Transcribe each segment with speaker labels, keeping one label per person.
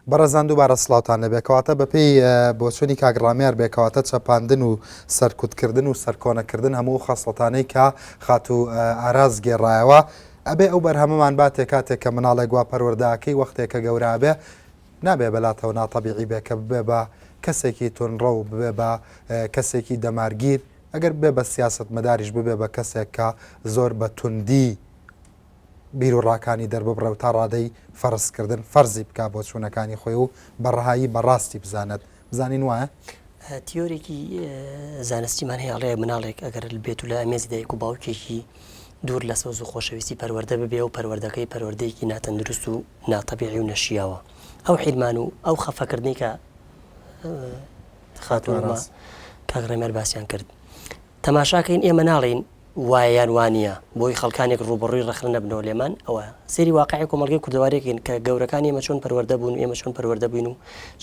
Speaker 1: بەڕێزان دووبارە سڵاوتان لەبێ کەواتە بەپێی بۆچوونی کاک ڕامیار بێ کەواتە چەپاندن و سەرکوتکردن و سەرکۆنەکردن هەموو خەسڵەتانەی کە خاتوو ئاراز گێڕایەوە ئەبێ ئەو بەرهەمەمان باتێ کاتێک کە مناڵێک وا پەروەردەکەی وەختێک کە گەورابێ نابێ بەلاتەوە ناتەبیعی بێ کە ببێ بە کەسێکی تونڕە و ببێ بە کەسێکی دەمارگیر ئەگەر بێ بە سیاست مەداریش ببێ بە کەسێک کە زۆر بە توندی بیروڕاکانی دەرببڕێ و تا ڕادەی فەرزکردن فەرزی بکا بۆچوونەکانی خۆی و بە ڕەهایی بە ڕاستی بزانێت. بزانین وایە؟ تیۆرێکی
Speaker 2: زانستیمان هەیە ئەڵێ مناڵێک ئەگەر بێت و لە ئەمێزی دایک و باوکێکی دوور لە سەوز و خۆشەویستی پەروەەردە ببێ و پەروەردەکەی پەروەردەیەکی ناتەندروست و ناتەبیعی و نەشیاوە ئەو حیرمان و ئەو خەفەکردنی کە خاتۆڕاست کاک ڕێمەر باسییان کرد تەماشاکەین ئێمە ناڵێین وایە یان وانیە بۆی خەڵکانێک ڕووبەڕووی ڕەخنە نەبنەوە لێمان ئەوە سەیری واقعی کۆمەڵگەی کوردەواریەکەین کە گەورەکانی ئێمە چۆن پەروەەردە بوون ئێمە چۆن پەروەەردە بووین و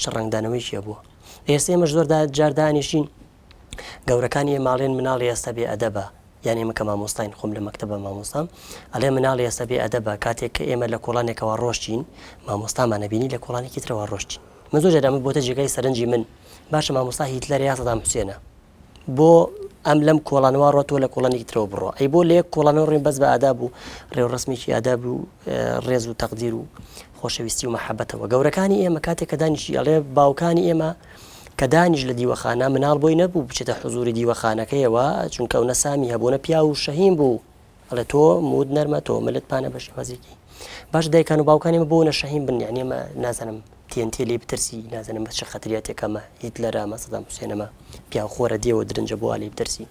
Speaker 2: چ ڕنگدانەوەیکی هەبووە ئێستا ئێمە زۆردا جاردانیشین گەورەکانی ماڵێن مناڵی ئێستا بێ ئەدەبە یان ئێمە کە مامۆستاین خۆم لە مەکتتەبە مامۆستام ئەلێ مناڵی ئێستا بێ ئەدەبە کاتێک کە ئێمە لە کۆڵانێکەوە ڕۆشتین مامۆستامانە بینی لە کۆڵانێکی ترەوە ڕۆشتین من زۆر جەرامە بۆتە جێگای سەرنجی من باشە مامۆستا هیتلەر یاسەدام حوسێنە بۆ ئەم لەم کۆڵانەوە ڕۆ تۆ لە کۆڵەنێکی ترەوە بڕۆ ئەی بۆ لە یەک کۆڵانەوە ڕێن بەس بە ئادا بوو ڕێوڕسمێکی ئادا بوو ڕێز و تەقدیر و خۆشەویستی و مححبەتەوە گەورەکانی ئێمە کاتێک کە دانیشی ئەڵێ باوکانی ئێمە کە دانیش لە دیوەخانە مناڵ بۆی نەبوو بچێتە حزوری دیوەخانەکەیەوە چونکە ئەو نەسامی هەبوونە پیا و شەهیم بوو ئەڵێ تۆ موت نەرمە تۆ ملت پانە بە شێوازێکی باش دایکان و باوکانی مە بۆ نە شەهیم بن یعنی ئەمە نازانم تێنتێ لێ بترسی نازانم بە چ خەتریاتێکەمە هیت لە رامە سەدام حوسێنەمە پیا خۆرە دێوە درنجە بۆ علی بترسی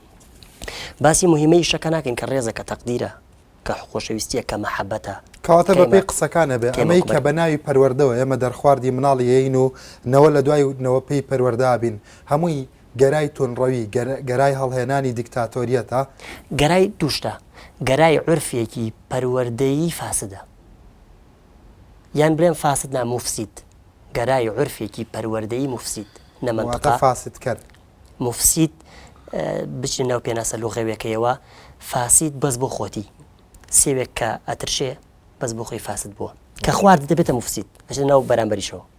Speaker 2: باسی مهمەی شەکە ناکەین کە ڕێزە کە تەقدیرە کە خۆشەویستیە کە مەحەبەتە کەواتە بە پێی
Speaker 1: قسەکانە بێ ئەمەی کە بە ناوی پەروەردەوە ئێمە دەرخواردی مناڵیین و نەوە لە دوای نەوە پێی پەروەدابین هەمووی گەرای توندڕەوی، گەرای هەڵهێنانی دیکتاتۆریەتە. گەرای دوو
Speaker 2: شتە، گەرای عورفێکی پەروەردەیی فاسدە. یان بلێم فاسد نا موفسید. گەرای عورفێکی پەروەردەیی موفسید. واتە فاسدکەر.
Speaker 1: موفسید
Speaker 2: بچنە ناو پێناسە لوغەویەکەیەوە، فاسید بەس بۆ خۆتی. سێوێک کە ئەترشێ بەس بۆ خۆی فاسد بووە. کە خوارد دەبێتە موفسید. ئەچێتە ناو بەرامبەریشەوە.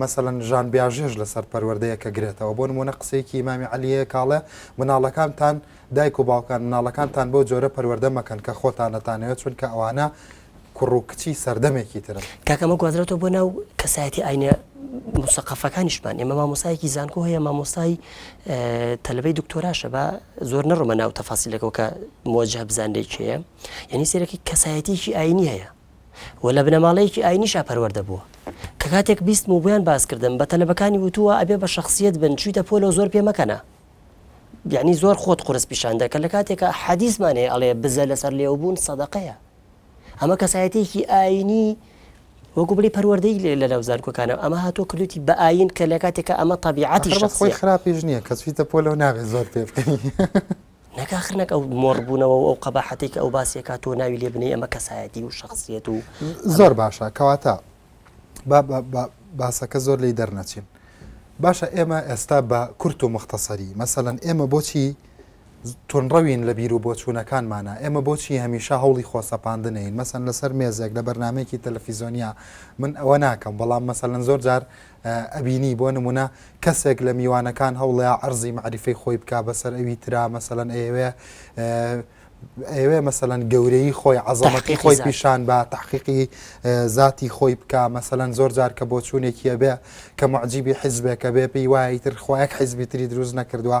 Speaker 1: مەسەلەن ژان بیاژێش لەسەر پەروەردەیەکە گرێتەوە، بۆ نموونە قسەیەکی ئیمامی عەلی هەیە کە ئەڵێ، مناڵەکانتان، دایک و باوکان، مناڵەکانتان بەو جۆرە پەروەردە مەکەن کە خۆتان دەتانەوێت، چونکە ئەوانە کوڕ و کچی سەردەمێکی ترن. کاکە ئەمە گوازرێتەوە بۆ
Speaker 2: ناو کەسایەتی ئاینە موسەقەفەکانیشمان، ئێمە مامۆستایەکی زانکۆ هەیە، مامۆستای تەلەبەی دکتۆراشە، با زۆر نەڕۆمە ناو تەفاسیلەکەوە کە موەجەهە بزانرێ کێیە، یانی سەیرەکەی کەسایەتیەکی ئاینی هەیە، و لە بنەماڵەیەکی ئاینیشا پەروەردە بووە کە کاتێک بیستم و بۆیان باس کردم بە تەلەبەکانی وتووە ئەبێ بە شەخسیەت بن چویتە پۆلەوە زۆر پێ مەکەنە یعنی زۆر خۆت قرس پیشان دەکە لە کاتێکە حەدیسمان هەیە ئەڵێ بزە لەسەر لێوبوون سەدەقەیە ئەمە کەسایەتێکی ئاینی وەکو بلی پەروەردەی لێ لە ناوزانکۆکانە ئەمە هاتۆ کردوتی بە ئاین کە لە کاتێکە ئەمە تەبیعەتی شخصی خۆی خراپیش
Speaker 1: نییە کە چویتە پۆلەوە نابێت زۆر پێ بکەنی نەک ئاخر
Speaker 2: نەک ئەو مۆڕ بوونەوە و ئەو قەباحەتەی کە ئەو باسی ئەکات تۆ ناوی لێ بنێی ئەمە کەسایەتی و شەخسیەت و زۆر باشە
Speaker 1: کەواتە با باسەکە زۆر لێی دەرنەچین باشە ئێمە ئێستا بە کورت و مختصری مەسەەن ئێمە بۆچی تونڕەوین لە بیر و بۆچوونەکانمانە ئێمە بۆچی هەمیشە هەوڵی خۆسەپاندنین مەسەن لەسەر مێزێک لە بەرنمێکی تەلەفیزۆنیا من ئەوە ناکەم بەڵام مەسەەن زۆر جار ئەبینی بۆ نمونە کەسێک لە میوانەکان هەوڵەیا عەرزی مەعریفەی خۆی بکا بەسەر ئەوی ترا مەسەلەن ئەیەوێ ئەوێ مەسەەن گەورەی خۆی عزەمەتی خۆی پیشان بە تحقیقی ذاتی خۆی بکە مەسەەن زۆر جار کە بۆ چوونێکیە بێ کە معجیبی حیزبێکە بێ پێی وایتر خۆیەک حیزبی تری دروست نەکردووە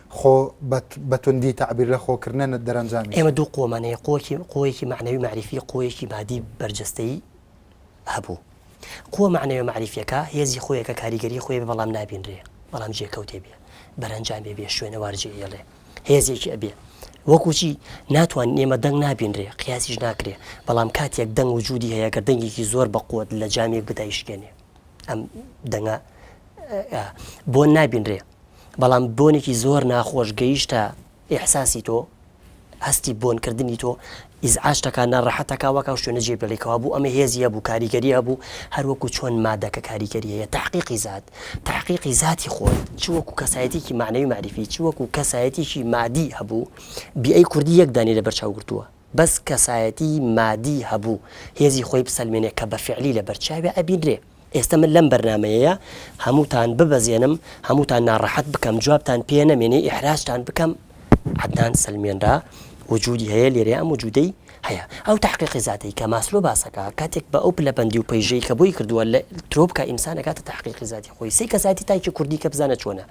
Speaker 1: خۆ بە بە توندی تەعبیر لە خۆ کردنە نە دەرەنجامیش. ئێمە دوو قۆمان هەیە،
Speaker 2: قۆیەکی قۆیەکی مەعنەوی مەعریفی، قۆیەکی مادی بەرجەستەیی هەبوو. قوە مەعنەویە مەعریفیەکە هێزی خۆیەکە کاریگەری خۆی بێ بەڵام نابینرێ، بەڵام جێکەوتێ بێ، بەرەنجامێ بێ، شوێنەوار جێهێڵێ، هێزێکی ئەبێ. وەکوو چی؟ ناتوانین ئێمە دەنگ نابینرێ، قیاسیش ناکرێ، بەڵام کاتێک دەنگ وجوودی هەیە گەر دەنگێکی زۆر بە قوەت لە جامێک بدەی شکێنێ ئەم دەنگە ئا بۆ نابینرێ. بەڵام بۆنێکی زۆر ناخۆش گەیشتە ئیحساسی تۆ هەستی بۆنکردنی تۆ ئیزعاشتەکە ناڕەحەتەکە وەکە شوێنە جێ بڵێکەوە بوو ئەمە هێزی هەبوو کاریگەری هەبوو هەروەکو چۆن مادەکە کاریگەری هەیە تحقیقی زات تحقیقی زاتی خۆی چوەکو کەسایەتێکی معنەوی معرفی چوەکو کەسایەتێکی مادی هەبوو بیئەی کوردی یەک دانی لە بەرچاوگرتووە بەس کەسایەتی مادی هەبوو هێزی خۆی بسەلمێنێ کە بە فعلی لە بەرچاوی ئەبینرێ ئێستە من لەم بەرنمەیەیە هەمووتان ببەزێنم هەمووتان ناڕەحەت بکەم جوابتان پێ نەمێنێ ئیحراجتان بکەم عدنان سلمێنرا وجودی هەیە لێرە ئەم وجودەی هەیە ئەو تحقیقی زیاتەی کە ماسلۆ باسەکە کاتێک بە ئەو پلەبندی و پەیژەی کە بۆی کردووە لە ترۆپکە ئینسانەکاتە تحقیقی زیاتی خۆی سی کەسایەتی تاکی کوردی کە بزانە چۆنە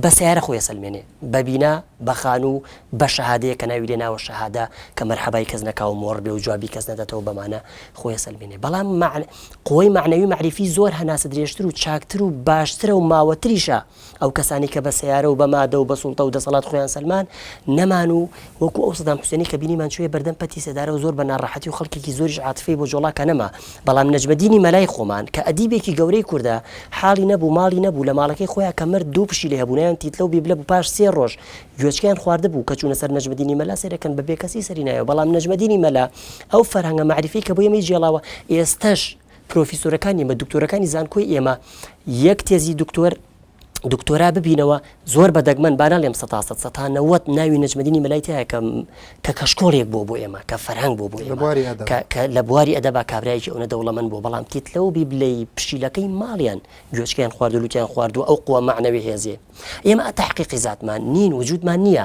Speaker 2: بە سیارە خۆی سلمێنێ بە بینا، بە خانوو، بە شەهادەیەک کە ناوی لێ ناوە شەهادە، کە مەرحەبای کەس نەکاو مۆڕ بێ و جوابی کەس نەداتەوە بەمانە خۆی ئەسەلمێنێ. بەڵام مەعن قوەی مەعنەوی مەعریفی زۆر هەناسە درێژتر و چاکتر و باشترە و ماوەتریشە. ئەو کەسانەی کە بە سەیارە و بە مادە و بە سوڵتە و دەسەڵات خۆیان سەلمان نەمان و وەکو ئەو سەدام حوسێنەی کە بینیمان چوویە بەردەم پەتی سێدارە و زۆر بە ناڕەحەتی و خەڵکێکی زۆریش عاتفەی بۆ جۆڵاکە نەما، بەڵام نەجمەدینی مەلای خۆمان کە ئەدیبێکی گەورەی کوردە حاڵی نەبوو ماڵی نەبوو لە ماڵەکەی خۆیا کە مرد دوو پشیلەی هەبوو ناویان تیتلە و بیبلە بوو پاش سێ ڕۆژ گوێچکەیان خواردبوو کە چوونە سەر نەجمەدینی مەلا سەیرەکەن بە بێکەسی سەری نایەوە بەڵام نەجمەدینی مەلا ئەو فەرهەنگە مەعریفەی کە بۆ ئێمەی جێڵاوە ئێستەش پرۆفیسۆرەکانی ئێمە دکتۆرەکانی زانکۆی ئێمە یەک تێزی دکتۆر دکتۆرا ببینەوە زۆر بە دەگمەن با نەڵێم سە سە سەتا نەوەت ناوی نەجمەدینی مەلای تایە کە کە کەشکۆڵێک بۆ بۆ ئێمە کە فەرهنگ بۆ بۆ لە بواری ئەدەبا کابراایکی ئەوە دەوڵەمەند بۆ بەڵام تیت لەو بی بلەی پشیلەکەی ماڵیان گوێچکیان خواردلووتیان خواردو ئەو قووە معنەوی هێزێ ئێمە تاقیقی زاتمان نین وجودمان نییە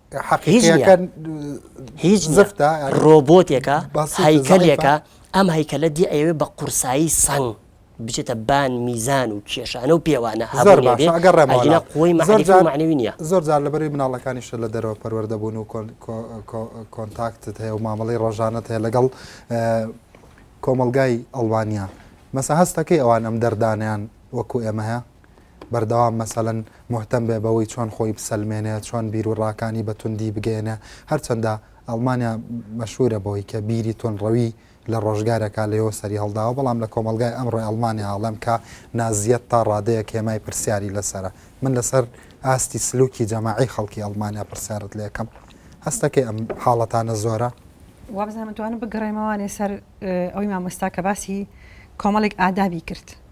Speaker 2: هیچ زفتە ڕۆبۆتێکە هەیکەلێکە ئەم هەیکەلە دی ئەوێ بە قورسایی سەنگ بچێتە بان میزان و کێشانە و پێوانە هەگەڕێمەگەرە قوی مەزانەوی نیە زۆر جار لەبەری
Speaker 1: مناڵەکانیشە لە دەرەوە پەروەەر دەبوون و کۆنتاکتت هەیە و مامەڵی ڕۆژانت هەیە لەگەڵ کۆمەلگای ئەڵوانیا مەسە هەستەکەی ئەوان ئەم دەردانیان وەکو ئێمە هەیە بەردەوام مەسەلەن موهتەم بێ بەوەی چۆن خۆی بسەلمێنێ، چۆن بیروڕاکانی بە توندی بگەیەنێ، هەرچەندە ئەڵمانیا مەشهوورە بەوەی کە بیری توندڕەوی لە ڕۆژگارێکا لەوێوە سەری هەڵداوە، بەڵام لە کۆمەڵگای ئەمڕۆی ئەڵمانیا ئەڵێم کە نازییەت تا ڕادەیەک هێمای پرسیاری لەسەرە. من لەسەر ئاستی سلووکی جەماعی خەڵکی ئەڵمانیا پرسیارت لێ ئەکەم. هەست ئەکەی ئەم حاڵەتانە زۆرە؟ وابزانم ئەتوانم
Speaker 3: بگەڕێمەوانێ سەر ئەوەی مامۆستا کە باسی کۆمەڵێک ئادابی کرد.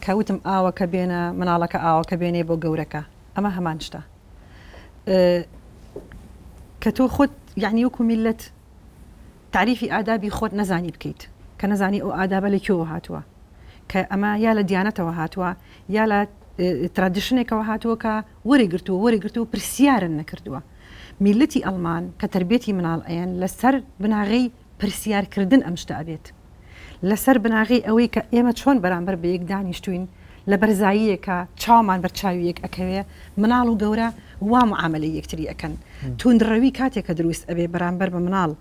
Speaker 3: کە وتم ئاوەکە بێنە مناڵەکە ئاوەکە بێنێ بۆ گەورەکە ئەمە هەمان شتە کە تۆ خۆت یعنی وەکو میلەت تعریفی ئادابی خۆت نەزانی بکەیت کە نەزانی ئەو ئادابە لە کوێوە هاتووە کە ئەمە یا لە دیانەتەوە هاتووە یا لە ترادیشنێکەوە هاتووە کە وەری گرتووە وەری گرتووە پرسیارن نەکردووە میلەتی ئەلمان کە تربێتی مناڵ ئەیەن لەسەر بناغی پرسیار کردن ئەم شتە ئەبێت لەسەر بناغەی ئەوەی کە ئێمە چۆن بەرامبەر بە یەک دانیشتووین لە بەرزاییەکا چاومان بەر چاوی یەک ئەکەوێ مناڵ و گەورە وا معامەلەی یەکتری ئەکەن توندڕەوی کاتێ کە درووست ئەبێ بەرامبەر بە مناڵ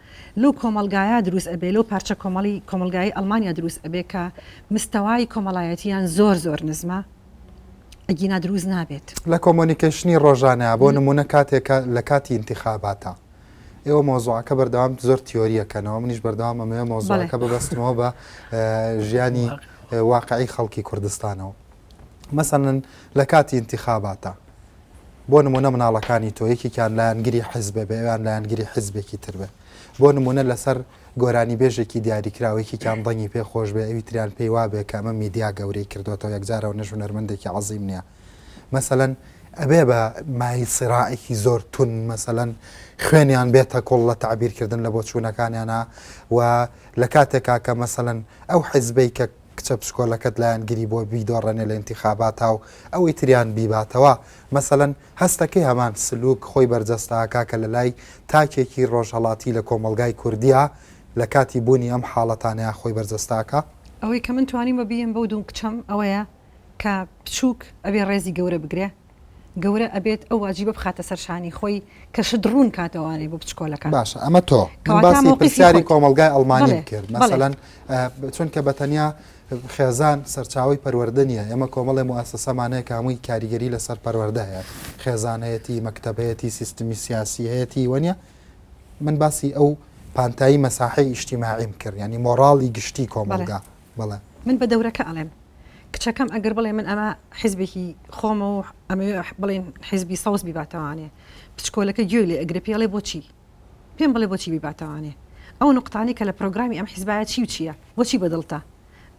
Speaker 3: لەو کۆمەڵگایە درووست ئەبێ لەو پارچە کۆمەڵی کۆمەڵگایی ئەڵمانیا درووست ئەبێ کە مستەوای کۆمەڵایەتیان زۆر زۆر نزمە ئەگینا درووست نابێت. لە کۆمۆنیکەیشنی
Speaker 1: ڕۆژانەیا بۆ نموونە کاتێ کە لە کاتی ئینتیخاباتا ئێوە مۆزوعەکە بەردەوام زۆر تیۆریەکەنەوە منیش بەردەوام ئەمەیە مۆزوعەکە ببەستمەوە بە ژیانی واقعی خەڵکی کوردستانەوە مەسەن لە کاتی انتخاباتە بۆ نمونە مناڵەکانی تۆ یەکێکیان لایەنگری حزبە بەوان لایەنگری حزبێکی تر بێ بۆ نمونە لەسەر گۆرانی بێژێکی دیاریکراوەیەکی کام دەنگی پێ خۆش بێ ئەوی تریان پێی وابێ کە ئەمە میدیا گەورەی کردوەوە یەکجارەوە نەژونەرمەندێکی عظیم نیە مەسەلەن ئەبێ بە مای سراعێکی زۆر تون مەسەەن خوێنیان بێتە کۆڵ لە تعبیرکردن لە بۆچوونەکانیانە و لە کاتێکا کە مەسەەن ئەو حیزبەی کە کچە پشکۆلەکەت لایەن گری بۆ بیدۆڕێنێ لە انتخاباتا و ئەوەی تریان بیباتەوە مەسەەن هەستەکەی هەمان سلوک خۆی بەرجەستاکە کە لە لای تاکێکی ڕۆژهڵاتی لە کۆمەلگای کوردیا لە کاتی بوونی ئەم حاڵەتانەیە خۆی بەرجەستاکە ئەوەی کە من توانیم
Speaker 3: بە بیێم بەو دوو کچەم ئەوەیە کە بچوک ئەبێ ڕێزی گەورە بگرێ، گەورە ئەبێت ئەو واجیبە بخاتە سەر شانی خۆی کە شت ڕوون کاتەوانێ بۆ بچکۆلەکان. باشە ئەمە تۆ.
Speaker 1: من باسی پرسیاری کۆمەڵگای ئەڵمانیم کرد. مەسەلەن چونکە بە تەنیا خێزان سەرچاوی پەروەردە نیە، ئێمە کۆمەڵێ موئەسەسەمان هەیە کە هەمووی کاریگەری لەسەر پەروەردە هەیە. خێزان هەیەتی، مەکتەب هەیەتی، سیستمی سیاسی هەیەتی وە نیە؟ من باسی ئەو پانتایی مەساحەی ئیشتیماعیم کرد، یانی مۆڕاڵی گشتی کۆمەڵگا. بەڵێ. من بە دەورەکە ئەڵێم
Speaker 3: کچەکەم ئەگەر بڵێ من ئەمە حیزبێکی خۆمە و ئەمەوێ بڵێن حیزبی سەوز بیباتەوانێ، بچکۆلەکە گوێی لێ ئەگرێ پێڵێ بۆچی؟ پێم بڵێ بۆچی بیباتەوانێ؟ ئەو نوقتانەی کە لە پرۆگرامی ئەم حیزبایە چی و چییە؟ بۆچی بە دڵتە؟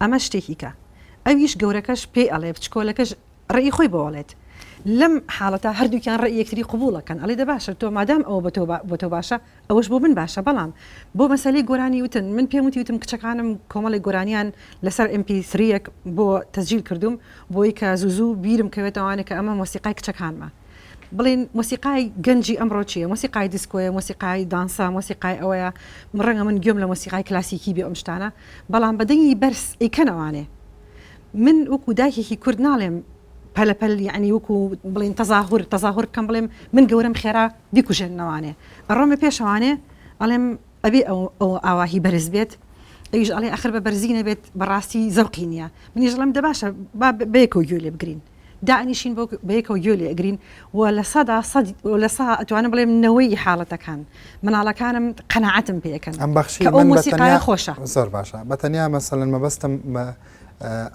Speaker 3: ئەمە شتێکی کە ئەویش گەورەکەش پێی ئەڵێ بچکۆلەکەش ڕێی خۆی بۆ ئەڵێت. لەم حاڵەتە هەردووکیان ڕێی یەکتری قبووڵ ئەکەن ئەڵێ دە باشە تۆ مادام ئەوە بۆ تۆ باشە ئەوەش بۆ من باشە بەڵام بۆ مەسەلەی گۆرانی وتن من پێم وتی وتم کچەکانم کۆمەڵێک گۆرانیان لەسەر ئێم پی سرییەک بۆ تەسجیل کردووم بۆی کە زوو زوو بیرم کەوێتەوە ئەوانە کە ئەمە مۆسیقای کچەکانمە بڵێن مۆسیقای گەنجی ئەمڕۆ چییە مۆسیقای دیسکۆیە مۆسیقای دانسە مۆسیقای ئەوەیە ڕەنگە من گوێم لە مۆسیقای کلاسیکی بێ ئەم شتانە بەڵام بە دەنگی بەرز ئەیکەن ئەوانێ من وەکوو دایکێکی کورد ناڵێم پەلەپەل یعنی وەکوو بڵێن تەزاهور تەزاهور بکەم بڵێم من گەورەم خێرا بیکوژێننەوانێ ئەڕۆمە پێشەوانێ ئەڵێم ئەبێ ئەو ئەو ئاواهی بەرز بێت ئەویش ئەڵێ ئەخر بە بەرزی نەبێت بەڕاستی زەوقی نییە منیش ڵێم دە باشە با بەیەکەوە گوێ لێ بگرین دانیشین بۆ بەیەکەوە گوێ لێ ئەگرین و لە سەدا سەد و لە سا ئەتوانم بڵێم نەوەی حاڵەتەکان مناڵەکانم قەناعەتم پێ ئەکەن ئەم بەخشی کە ئەو من بە مۆسیقایە
Speaker 1: تەنیا خۆشە.
Speaker 3: زۆر باشە بە تەنیا
Speaker 1: مەسەلەن مەبەستم مە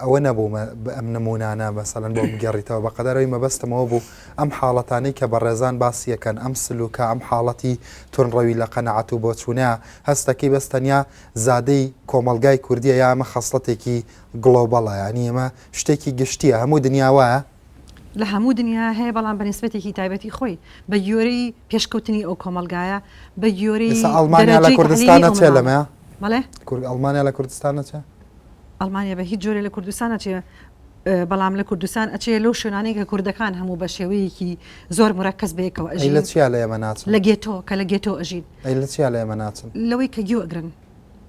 Speaker 1: ئەوە نەبوو ئەم نمونانە مەسەلەن بۆ بگەڕیتەوە بەقەدەر ئەوی مەبەستمەوە بوو ئەم حاڵەتانەی کە بەڕێزان باسیەکەن ئەم سلوکە ئەم حاڵەتی تونڕەوی لە قەناعەت و بۆچوونە هەستەکەی بەس تەنیا زادەی کۆمەڵگای کوردیە یا ئەمە خەسڵەتێکی گڵۆبەڵە یانی ئەمە شتێکی گشتیە هەموو دنیا وایە؟ لە هەموو
Speaker 3: دنیا هەیە بەڵام بە نیسبەتێکی تایبەتی خۆی بە گوێرەی پێشکەوتنی ئەو کۆمەلگایە بە گوێرەی ئێستا ئەڵمانیا لە دەرەجەی کوردستانە
Speaker 1: تەحلیلی چێ ئەڵمان. لەمەیە بەڵێ کورد
Speaker 3: ئەڵمانیا لە
Speaker 1: کوردستانە چێ ئەڵمانیا
Speaker 3: بە هیچ جۆرێ لە کوردستان نەچێ ئە، بەڵام لە کوردستان ئەچێ لەو شوێنانەی کە کوردەکان هەموو بە شێوەیەکی زۆر مورەکەز بەیەکەوە ئەی لە ئەژین چیا لە ئێمە
Speaker 1: ناچن
Speaker 3: لە
Speaker 1: گێتۆ کە لە گێتۆ
Speaker 3: ئەژین ئەی لە چیا لە ئێمە ناچن
Speaker 1: لەوەی کە گوێ ئەگرن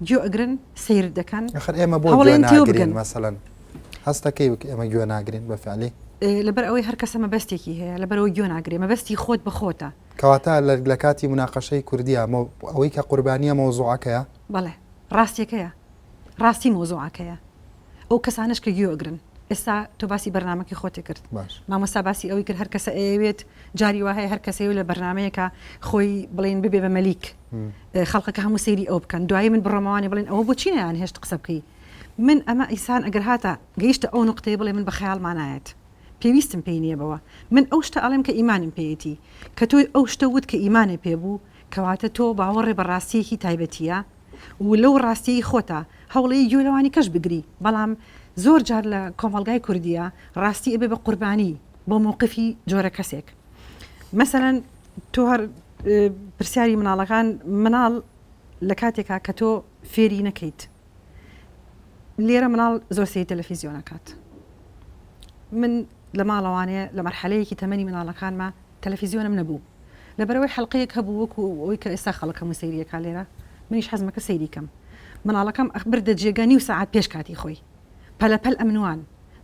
Speaker 3: گوێ ئەگرن سەیرت دەکەن ئەخر ئێمە بۆ گوێ هەوڵێن تێو ناگرین
Speaker 1: بگەن مەسەلەن هەستەکەی وک ئێمە گوێ ناگرین بە فعلی ئێ، لەبەر ئەوەی هەر
Speaker 3: کەسە مەبەستێکی هەیە لەبەرەوە گوێ ناگرێ مەبەستی خۆت بە خۆتە کەواتە لە لە
Speaker 1: کاتی مناقەشەی کوردیە مەو ئەوەی کە قوربانیە مەوزوعەکەیە بەڵێ
Speaker 3: ڕاستیەکەیە ڕاستی مۆزوعەکەیە ئەو کەسانش کە گوێ ئەگرن ئێستا تۆ باسی بەرنمەکەی خۆتی کرد باش مامۆستا باسی ئەوەی کرد هەر کەسە ئەیەوێت جاری وا هەیە هەر کەسەیە لە بەرنمەیەکە خۆی بڵێن ببێ بە مەلیک خەڵقەکە هەموو سەیری ئەو بکەن دوایی من بڕۆمەوانی بڵێن ئەوە بۆ چینیان هێشت قسە بکەی من ئەمە ئیسان ئەگەر هاتە گەیشتە ئەو نقطەی بڵێ من بە خەیاڵمانایەت پێویستم پێی نییە بەوە من ئەو شتە ئەڵێم کە ئیمانم پێیەتی کە تۆی ئەو شتە وت کە ئیمانێ پێ بوو کەواتە تۆ باوەڕێ بە ڕاستیەکی تایبەتیە و لەو ڕاستیەی خۆتە هەوڵەیە گوێ لەوانی کەش بگری بەڵام زۆر جار لە کۆمەڵگای کوردیە ڕاستی ئەبێ بە قوربانی بۆ موقفی جۆرە کەسێک. مەسەلەن تۆ هەر پرسیاری مناڵەکان مناڵ لە کاتێکا کە تۆ فێری نەکەیت لێرە مناڵ زۆر سی تەلەفیزیۆنەکات من لە ماڵەوانەیە لە مەرحەلەیەکی تەمەنی مناڵەکانمە تەلەفیزیۆنم نەبوو لەبەرەوەی حلقەیەک هەبوو وەکو ئەوی کە ئێستا خەڵکەم و سەیریەکە لێرە منیش حەزمەکە سەیریکەم مناڵەکەم ئەخبر دەجێگە نیو ساعت پێش کاتی خۆی پەلەپەل ئەمنوان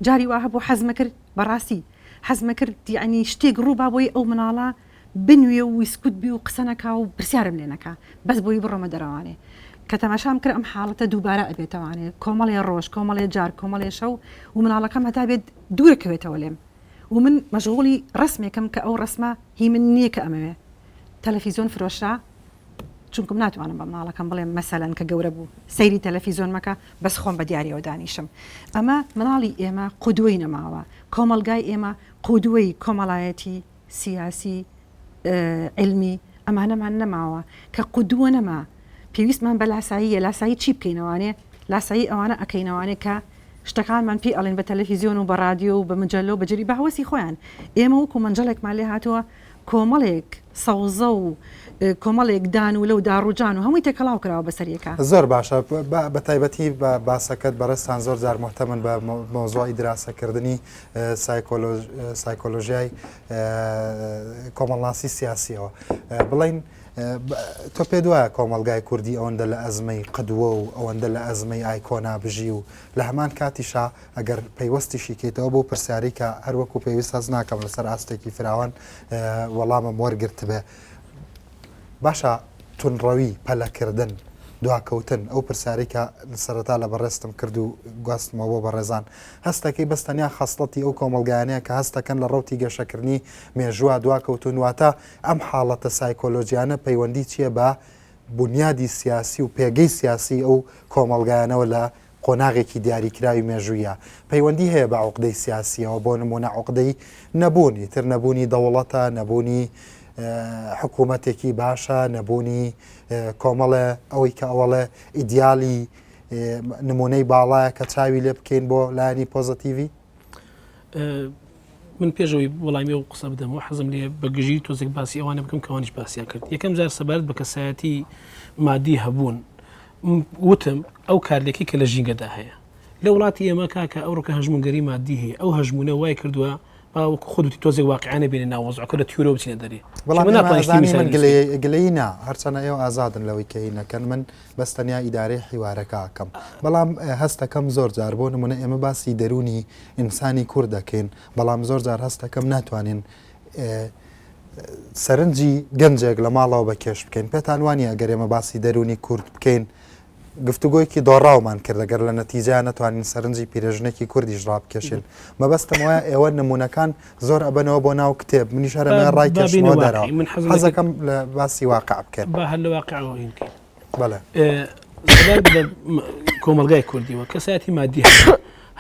Speaker 3: جاری وا هەبوو حەزمە کرد بەڕاستی حەزمەکرد یەعنی شتێک ڕووبا بۆی ئەو مناڵە بنوێ و ویسکوت بێ و قسە نەکا و پرسیارم لێ نەکا بەس بۆی بڕۆمە دەرەوانێ کە تەماشام کرد ئەم حاڵەتە دووبارە ئەبێتەوانێ کۆمەڵێ ڕۆژ کۆمەڵێ جار کۆمەڵێ شەو و مناڵەکەم هەتا بێت دوورە کەوێتەوە لێم و من مەشغوڵی ڕەسمێکم کە ئەو ڕەسمە هی من نیە کە ئەمەوێ تەلەفیزۆن فرۆشرا چونکم ناتوانم بە مناڵەکەم بڵێم مەسەلەن کە گەورە بوو سەیری تەلەفیزۆن مەکە بەس خۆم بە دیارەوە دانیشم ئەمە مناڵی ئێمە قودوەی نەماوە کۆمەلگای ئێمە قودوەی کۆمەڵایەتی سیاسی علمی ئەمانەمان نەماوە کە قودوە نەما پێویستمان بە لاساییە لاسایی چی بکەینەوانێ لاسایی ئەوانە ئەکەینەوانێ کە شتەکانمان پێ ئەڵێن بە تەلەفیزیۆن و بە رادیۆ و بە مجللو بەجری بە هەوەسی خۆیان ئێمە وەکو منجڵێکمان لێ هاتووە کۆمەڵێک سەوزە و کۆمەڵێک دان و لەو داڕووجان و هەمووی تێکەڵاو کراوە بەسەر یەکا. زۆر باشە
Speaker 1: بە تایبەتی بە باسەکەت بەڕێزتان زۆر جار موهتەمن بە مەوزوعی دراسەکردنی سایکۆلۆژیای کۆمەڵناسی سیاسییەوە بڵێین تۆ پێت وایە کۆمەڵگای کوردی ئەوەندە لە ئەزمەی قدوە و ئەوەندە لە ئەزمەی ئایکۆنا بژی و لە هەمان کاتیشا ئەگەر پەیوەستیشی کەیتەوە بەو پرسیارەی کە هەر وەکو پێویست هەست ناکەم لەسەر ئاستێکی فراوان وەڵامم وەرگرتبێ باشە تونڕەوی پەلەکردن دواکەوتن ئەو پرسیاری کە سەرەتا لە بەڕێستم کرد و گواستمەوە بۆ بەڕێزان هەستەکەی بەستەنیا خەسڵەتی ئەو کۆمەلگایانەیە کە هەستەکەن لە ڕوتی گەشەکردنی مێژووە دواکەوتون واتە ئەم حاڵەتە سایکۆلۆژیانە پەیوەندی چییە بە بنیادی سیاسی و پێگەی سیاسی ئەو کۆمەلگایانەوە لە قۆناغێکی دیاریکراوی مێژوویە، پەیوەندی هەیە بە عوقدەی سیاسییەوە، بۆ نموونە عوقدەی نەبوون، ئیتر نەبوونی دەوڵەتە، نەبوونی حکوومەتێکی باشە، نەبوونی کۆمەڵێ ئەوەی کە ئەوەڵێ ئیدیالی نمونەی باڵایە کە چاوی لێ بکەین بۆ لایانی پۆزەتیڤی؟
Speaker 4: من پێش ئەوی وەڵامی ئەو قسە بدەم و حەزم لێ بە گژی تۆزێک باسی ئەوانە بکەم کەوانش باسییان کرد یەکەم جار سەبارەت بە کەسایەتی مادی هەبوون وتم ئەو کارلێکی کە لە ژینگەدا هەیە لە وڵاتی ئێمە کاکە ئەو ڕکە هەژمونگەری مادی هەیە ئەو هەژمونە وای کردووە باوەک خودی تۆزێک واقعانە بێنە ناوەزعکە لە تیورۆ بچینە دەری گلەی
Speaker 1: نا هەرچەنە ئێوە ئازادن لەوەی کەی نەکەن من بەس تەنیا ئیدارەی حیوارەکە ئەکەم بەڵام هەستەکەم زۆر جار بۆ نمونە ئێمە باسی دەرونی ئینسانی کورد دەکەین بەڵام زۆر جار هەستەکەم ناتوانین سەرنجی گەنجێک لە ماڵەوە بە کێش بکەین پێتان وانی ئەگەر ئێمە باسی دەرونی کورد بکەین گفتوگۆیەکی دۆڕاومان کرد دەگەر لە نەتیجە ناتوانین سەرنجی پیرێژنێکی کوردیش ڕابکێشن مەبەستم وایە ئێوە نمونونەکان زۆر ئەبەنەوە بۆ ناو کتێب منیش هەرە ڕای کەشمەوە دەرەوە من حەزەکەم لە باسی واقع بکەن بە هەر لە واقعەوە
Speaker 4: بکەین
Speaker 1: بەڵێ
Speaker 4: کۆمەلگای کوردیەوە کەسایەتی مادی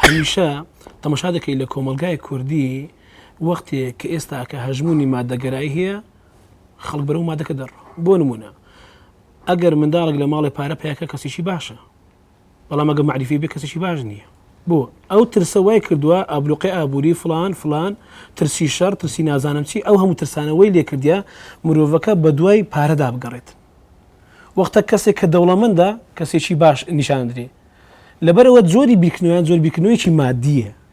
Speaker 4: هەمیشە تەمەشا دەکەی لە کۆمەلگای کوردی وەختێک کە ئێستا کە هەژمونی مادەگەرای هەیە خەڵک بەرەو مادەکە دەڕ بۆ نمونە ئەگەر منداڵێک لە ماڵی پارە پیاکە کەسیی باشە بەڵام ئەگەر مەعریفی بێ کەسێکی باش نییە بۆ ئەو ترسە وای کردووە ئابلوقی ئابووری فلان فلان ترسی شەڕ ترسی نازانم چی ئەو هەموو ترسانەوەی لێکردە مرۆڤەکە بە دوای پارەدا بگەڕێت وەختە کەسێک کە دەوڵەمەندە کەسێکی باش نیشاندرێ لەبەرەوە زۆری بیرکردنەوەیان زۆر بیرکردنەوەیکی مادیە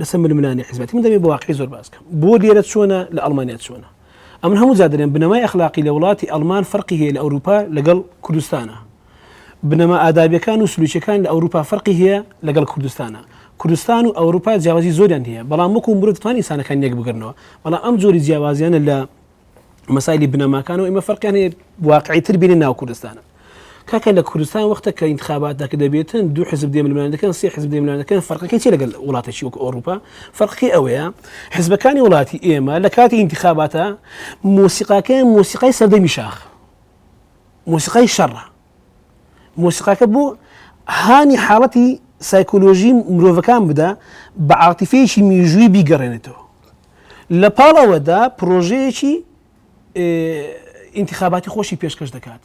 Speaker 4: لەسەر ململانی حزبەتی من دەبێت بە واقعی زۆر باس بکەم بۆ لێرە چۆنە لە ئەڵمانیا چۆنە ئەمن هەموو جادرێن بنەمای ئەخلاقی لە وڵاتی ئەلمان فەرقی هەیە لە ئەوروپا لەگەڵ کوردستانە بنەما ئادابیەکان و سلوچەکان لە ئەوروپا فەرقی هەیە لەگەڵ کوردستانە کوردستان و ئەوروپا جیاوازی زۆریان هەیە بەڵام وەکو مرۆڤ توان ئینسانەکان یەک بگرنەوە بەڵام ئەم جۆری جیاوازیانە لە مەسایلی بنەماکان و ئمە فەرقیان هەیە واقعی تر بینە ناو کوردستانە کاکە لە کوردستان وەختە کە انتخابات دەکە دەبێتن دو حزب دێملمان دەکەن سێ حزب دێملمان دەکەن فەرقەکەی چی لەگەل وڵاتێکی وەک ئۆروپا فەرقی ئەوەیە حزبەکانی وڵاتی ئێمە لە کاتی انتخاباتە مۆسیقاکەیان مۆسیقای سەردەمی شاخ مۆسیقای شەڕە مۆسیقاکە بۆ هانی حاڵەتی سایکۆلۆژی مرۆڤەکان بدا بە عاتیفەیەکی میژووی بیگەڕێنێتەوە لە پاڵ ئەوەدا پرۆژەیەکی ئینتخاباتی خۆشی پێشکەش دەکات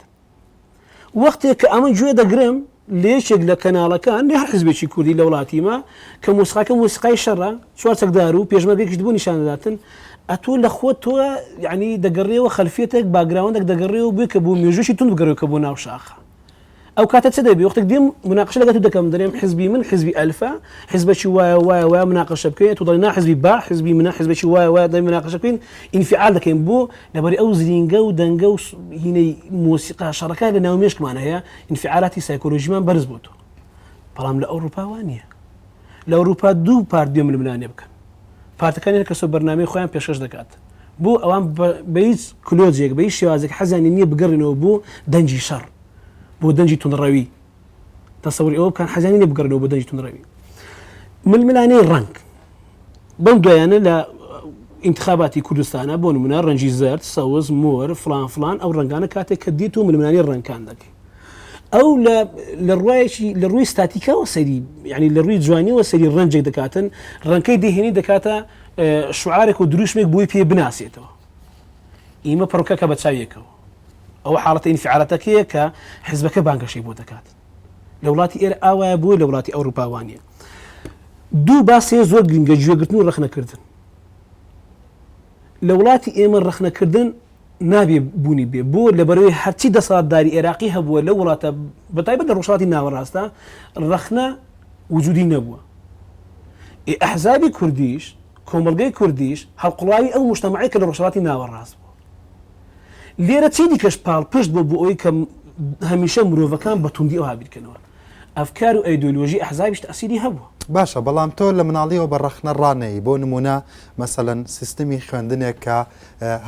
Speaker 4: وەختێک کە ئەمە گوێ دەگرم لە یەکێک لە کەناڵەکان لە حزبێکی کوردی لە وڵاتیمە کە مۆسیقاکە مۆسیقای شەڕە چوار چەکدار و پێشمەرگەێکیشت بۆ نیشان دەداتن، ئەتۆ لە خۆت تۆ یەعنی دەگەڕێیەوە خەلفیەتێک باگراوندێک دەگەڕێیەوە بۆی کە بۆ مێژووێکی توند بگەڕێ کە بۆ ناو شاخە ئەو کاتە چ دەبێ وەختێک دێم مناقشە لەگەڵ تۆ دەکەم دەرێم حزبی من حزبی ئەلفە حزبەکی وایە وایە وایە مناقشە بکەین تۆ دەڵێ نا حزبی با حزبی منە حزبەکی وایە وایە دەبێ مناقشە بکەین ئینفعال دەکەین بۆ لەبەری ئەو زرینگە و دەنگە و هینەی مۆسیقا شەڕەکە لە ناو مێشکمان هەیە ئینفعالاتی سایکۆلۆژیمان بەرز بۆتەوە بەڵام لە ئەوروپا وا نییە لە ئەوروپا دوو پارت بێ ململانێ بکەن پارتەکانی هەر کەسە بەرنامەی خۆیان پێشکەش دەکات بۆ ئەوان بە هیچ کلۆزیێک بە هیچ شێوازێک حەزیانی نییە بگەڕێنەوە بۆ دەنجی شەڕ بۆ دەنجی تونڕەوی تەسەوری ئەوە بکەن حەزیانی نیە بگەڕێنەوە بۆ دەنجی تونڕەوی ململانەی ڕنگ بەم دوایانە لە انتخاباتی کوردستانە بۆ نمونە ڕەنجی زرد سەوز مۆر فلان فلان ئەو ڕنگانە کاتێک کە دیت و ململانی ڕنگکان دەکەی ئەو لە ڕایەکی لە ڕووی ستاتیکەوە سەری ینی لە ڕووی جوانیەوە سەری ڕەنجێک دەکاتن ڕەنکەی دهێنی دەکاتە شعارێک و دروشمێک بۆی پێ بناسێتەوە ئیمە پڕکەکە بە چاویەکەەوە ئەو حاڵەتی ئینفعالەتەکەیە کە حزبەکە بانگەشەی بۆ دەکات لە وڵاتی ئێر ئاوایە بووە لە وڵاتی ئەوروپاوانە دوو باسێ زۆر گرنگە گوێگرتن و ڕخنەکردن لە وڵاتی ئێمە ڕەخنە کردن نابێ بوونی بێ بۆ لەبەرەوەی هەرچی دەسەڵاتداری ئێراقی هەبووە لەو وڵاتە بەتایبەت لە ڕۆژهەڵاتی ناوەڕاستدا ڕەخنە وجودی نەبووە ئێ ئەحزابی کوردیش کۆمەڵگەی کوردیش هەڵقوڵاوی ئەو مشتەمەعەی کە لە ڕۆژهەڵاتی ناوەڕاست بوو لێرە چی دیکەش پاڵپشت بوو بۆ ئەوی کە هەمیشە مرۆڤەکان بە توندی ئەوها بیرکەنەوە ئەفکار و ئەیدۆلۆژی ئەحزابیش تەئسیری هەبووە. باشە بەڵام تۆ
Speaker 1: لە مناڵیەوە بە ڕەخنە ڕانەیی بۆ نمونە مەسەلەن سیستمی خوێندنێک کە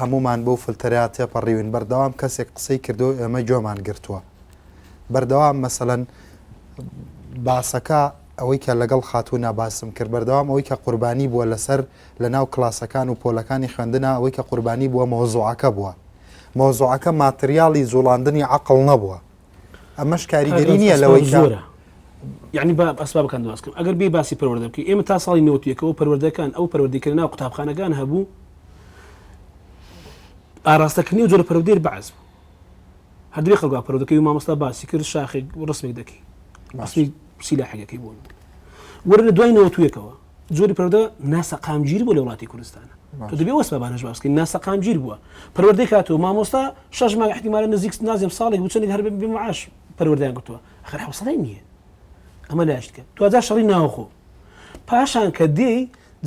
Speaker 1: هەموومان بەو فلتەرە تێپەڕیوین بەردەوام کەسێک قسەی کردوەو ئێمە گوێمان گرتوە بەردەوام مەسەلەن باسەکە ئەوەی کە لەگەڵ خاتونا باسم کرد بەردەوام ئەوەی کە قوربانی بووە لەسەر لەناو کلاسەکان و پۆلەکانی خوێندنا ئەوەی کە قوربانی بووە مەوزوعەکە بووە مەوزوعەکە ماتریالی جوڵاندنی عەقڵ نەبووە ئەمەش کاریگەری نییە لەوەی زۆرە یعنی با
Speaker 4: ئەسبابەکان دواز بکەم ئەگەر بێ باسی پەروەردە بکە ئێمە تا ساڵی نەوتێکەوە پەروەردەکان ئەو پەروەردەکە ناو قوتابخانەکان هەبوو ئاراستەکردنی و جۆرە پەرودێر بەعز بوو هەردوێ خەڵگا پەرودەکەی و مامۆستا باسی کرد شاخێک ڕسمێک دەکەی ماسی سیلا حەگەکەی بوون وەرە دوای نەوتوێکەوە جۆری پەرۆدە ناسەقامگیر بوو لە وڵاتی کوردستانە تۆ دەبێ وەسە بانەش باس بکەین ناسەقامگیر بووە پەروەردەی کاتەوە مامۆستا شەش مانگ احتیمالە نزیک نازم ساڵێک بچنی هەر بێ معاش پەروەردەیان گرتووە ئەخر حوصلەی نییە ئەمە لایش کرد دوجا شەڕی ناوخۆ پاشان کە دێی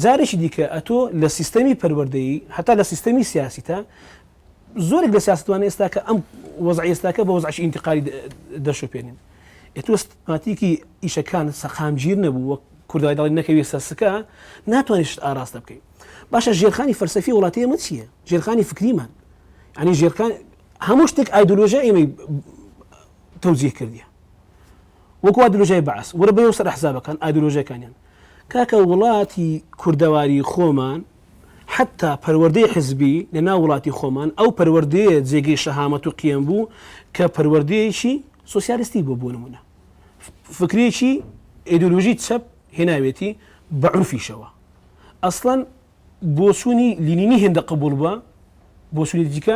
Speaker 4: جارێکی دیکە ئەتۆ لە سیستەمی پەروەردەیی هەتا لە سیستەمی سیاسی تا زۆرێک لە سیاسەتوانە ئێستاکە ئەم وەزعە ئێستاکە بە وەزعی ئینتقالی دەشوپێنین ئێتۆ سیستماتیکی ئیشەکان سەقامگیر نەبوو وەک کوردای دەڵی نەکەوی سەسکە ناتوانانی شت ئاراستە بکەیت باشە ژێرخانی فەرسەفی وڵاتی ئەمە چییە ژێرخانی فکریمان ئەنی ژێرخان هەموو شتێک ئایدۆلۆژە ئێمەی تەوزیه کردیە وەکو ئایدۆلۆژای بەعس وەرە بەەوە سەر حسابەکان ئایدۆلۆژەکانیان کاکە وڵاتی کوردەواری خۆمان حەتتا پەروەردەی حزبی لە ناو وڵاتی خۆمان ئەو پەروەردەیە جێگەی شەهامەت و قیەم بوو کە پەروەردەیەکی سۆسیالستی بووە بۆ نموونە فکرێکی ئێدۆلۆژی چەپ هێناوێتی بە عورفیشەوە ئەسڵەن بۆچوونی لینینی هێندە قبوڵ بووە بۆچوونی دیکە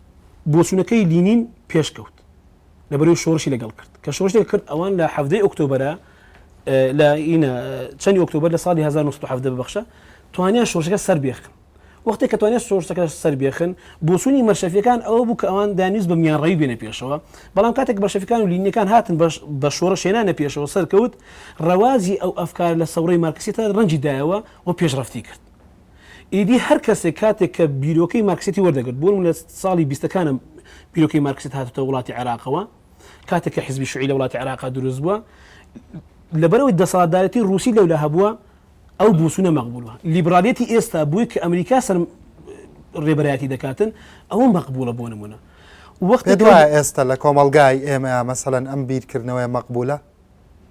Speaker 4: بۆچوونەکەی لینین پێش کەوت لەبەرەوەی شۆڕشی لەگەڵ کرد کە شۆڕشێک کرد ئەوان لە حەڤدەی ئۆکتۆبەرە لە ئینە چەندی ئۆکتۆبەر لە ساڵی 1970 ببخشە توانیان شۆڕشەکە سەر بێخن وەختی کە توانێت شۆڕشەکە سەر بێخن بۆچوونی مەرشەفیەکان ئەوە بوو کە ئەوان دانیست بە میانڕەوی بێنە پێشەوە بەڵام کاتێک بەشەفەکان و لینیەکان هاتن بە شۆڕش هێنانە پێشەوە سەرکەوت ڕەوازی ئەو ئەفکار لە سەوڕی مارکسیتە ڕەنجی دایەوە و پێشڕەفتی کرد ئیدی هەر کەسێک کاتێک کە بیرۆکەی مارکسیەتی وەردەگرت، بۆ نموونە لە ساڵی بیستەکانە بیرۆکەی مارکسیەت هاتۆتە وڵاتی عێراقەوە، کاتێک کە حیزبی شوعی لە وڵاتی عێراقا دروست بووە، لەبەرئەوەی دەسەڵاتدارێتی ڕووسی لەولا هەبووە، ئەو بووسوونە مەقبووڵە. لیبرالیەتی ئێستا بۆی کە ئەمریکا سەر ڕێبەرایەتی دەکاتن، ئەوە مەقبووڵە بۆ نموونە. وەختێک پێت وایە ئێستا لە
Speaker 1: کۆمەڵگای ئێمەیا مەسەلەن ئەم بیرکردنەوەیە مەقبوولە؟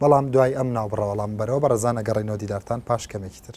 Speaker 1: بەڵام دوای ئەم ناوبڕەوەڵام بەرەوە بەڕێزان ئەگەڕێینەوە دیدارتان پاش کەمێکی تر.